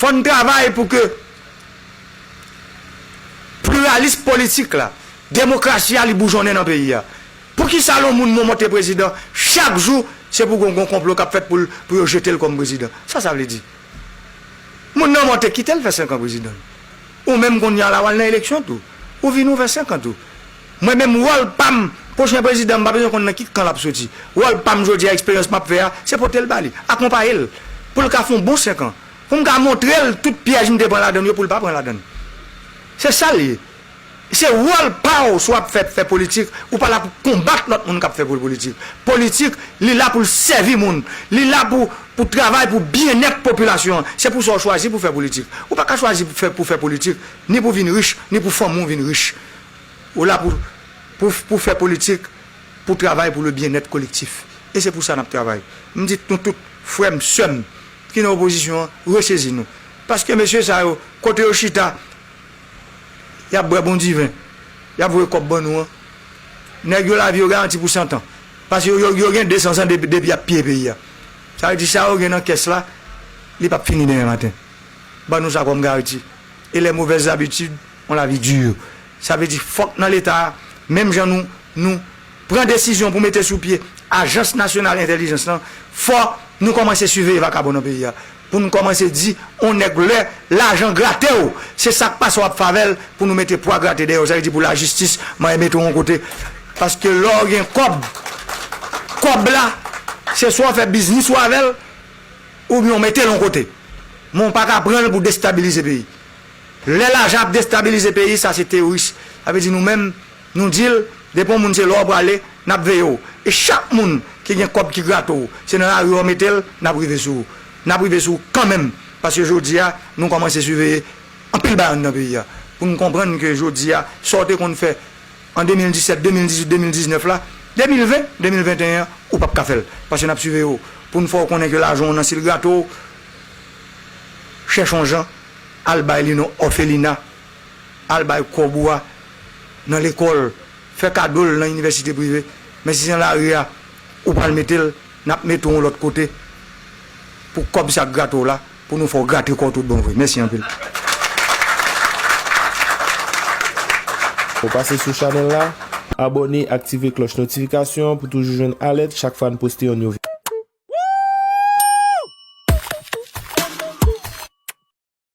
Fò n travay pou ke pliralism politik la, demokrasi a li boujonnen nan peyi a. Pou ki sa lon moun monte prezidan, chak jou se pou gon gon konplo k ap fèt pou l pou yo jete l kòm prezidan. Sa sa vle di? Moun nan monte kite l fè senkan prezidan. Ou menm kounya la w al nan eleksyon tou. Ou vini w fè senkan tou. Mwen menm wòl pam pwochen prezidan m pa bezwen konn nan ki kan lap soti. Wòl pam jodi a eksperyans map fè a se potel ba li, akonpaye l pou l ka fon bon 5 an. Pou m ka montre l tout pyèj m te pran ladann yo pou l pa pran ladann. Se sa l ye. Se wòl pa w si w ap fè fè politik ou pa la pou w konbat lòt moun kap fè politik. Politik li la pou l sèvi moun. Li la pou pou travay pou byennèt popilasyon an. Se pou sa w chwazi pou fè politik. Ou pa ka chwazi pou fè politik ni pou vin rich ni pou fanmi w vin rich. Ou la pou pou pou fè politik, pou travay pou le byennèt kolektif. E se pou sa nap travay. M di nou tout, frè m, sè m, ki nan opozisyon an, resezi nou. Paske mesye sa yo, kote yo chita, yap bwè bon diven, yap voye kòb ban nou an. Nèg yo lavi yo garanti pou santan. Paske yo yo gen 200 zan depi depi yap piye peyi a. Sa vle di sa yo gen nan kès la, li pap fini demen maten. Ban nou sa kòm gariti. E lè movèz zabitid. On la vie dure. Sa vle di fòk nan leta a, menm jan nou, nou Pran desizyon pou mete sou pye ajans nasyonal entèlijans lan, fò nou kòmanse siveye vakabon nan peyi a. Pou nou kòmanse di on nèg lè lajan grate w, se sa k pase w ap fave l pou nou mete pwa grate dèyè w. Sa vle di pou lajistis manyen mete w on kote. Paske lè w gen kòb, kòb la se swa w fè biznis ou avè l oubyen w mete l on kote. Men w pa ka pran l pou destabilize peyi. Lè lajan ap destabilize peyi sa se teoris sa vle di nou menm nou dil depi yon moun se lè w prale nap veye w e chak moun ki gen kòb ki grate w se nan lari yo mete l nap rive sou w nap rive sou w kanmenm paske jodia nou kòmanse siveye anpil bagay anndan peyi a pou nou konprann ke jodia sa w te konn fè an 2017 2018 2019 la 2020 2021 an ou pap ka fè l paske nap siveye w pou nou fè w konnen ke lajan w nan si l grate w chèch yon jan Al bay li nan òfelina, al bay kòb ou a nan lekòl, fè kado l nan inivèsite prive, men si se nan lari a ou pral mete l, n ap mete w yon lòt kote pou kòb sa k grate w la, pou nou fè w grate kò w tout bon vre. Mèsi anpil. Ou pase sou chanèl la? Abòne, aktive klòch notifikasyon an pou toujou jwenn alèt chak fwa n poste yon nouvo.